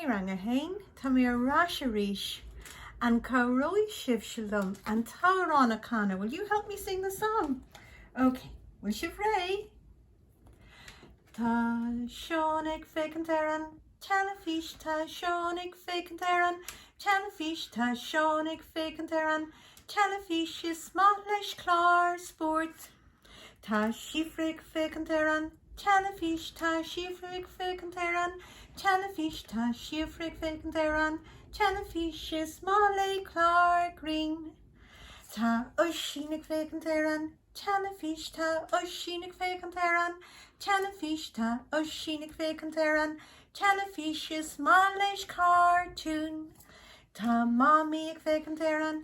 Hey Rang a hAon, tá mé ar ais arís. An cabhróidh sibhse liom an t-amhrán a chanadh? Will you help me sing the song? Ok, bhfuil sibh réidh? Tá Seán ag féachaint ar an teilifís, tá Seán ag féachaint ar an teilifís, tá Seán ag féachaint ar an teilifís, is maith leis cláir spóirt. Tá Síofra ag féachaint ar an teilifís Tá Síofra ag féachaint ar an teilifís Tá Síofra ag féachaint ar an teilifís Is maith léi cláir grinn Tá Oisín ag féachaint ar an teilifís Tá Oisín ag féachaint ar an teilifís Tá Oisín ag féachaint ar an teilifís Is maith leis cartúin Tá Mamaí ag féachaint ar an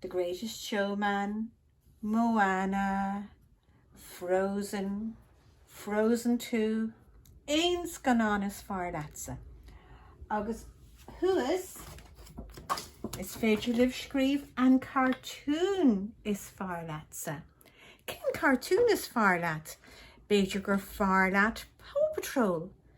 The Greatest Showman, Moana, Frozen, Frozen Two, aon scannán is fearr leatsa. Agus thuas, is féidir libh scríobh an cartún is fearr leatsa. Cén cartún is fearr leat? B'fhéidir gur fearr leat Paw Patrol?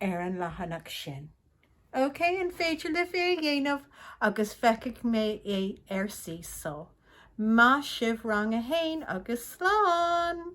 ar an leathanach sin. OK, an féidir libh é a dhéanamh agus feicfidh mé é ar Seesaw. Maith sibh rang a haon agus slán!